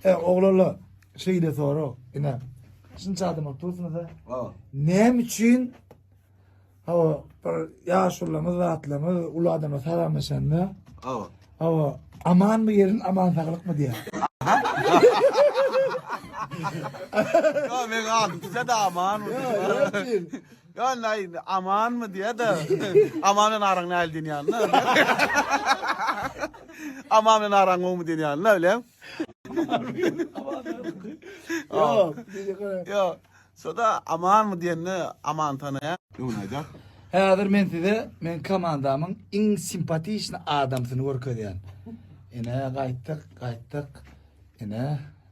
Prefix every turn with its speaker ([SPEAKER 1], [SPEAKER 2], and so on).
[SPEAKER 1] E, oglala şeýle sorag, ine. Şunça adam bolup dursunuz-a. Hawa. Näme üçin hawa bir ýaşulylarymyz, zatlarymyz, uly adamlar salamlaşanda Hawa. hawa amanmy ýerin, aman saglykmy diýýär. Hawa, men adyp size de aman. Ýok, ýok diýil. Ýöne aý indi amanmy diýýä-de. Aman bilen araň nähili diýen ýalyna. Aman bilen araň gowumy diýen ýalyna bileň. Ýok, diýjek ora. Ýok. Şo-da amanmy diýende Aman tanaýar. Öňüni aýdar. Häzir men size meň komandamyň iň simpatiçny adamsyny görkezýän. Ine, gaýtdyk, gaýtdyk. Ine.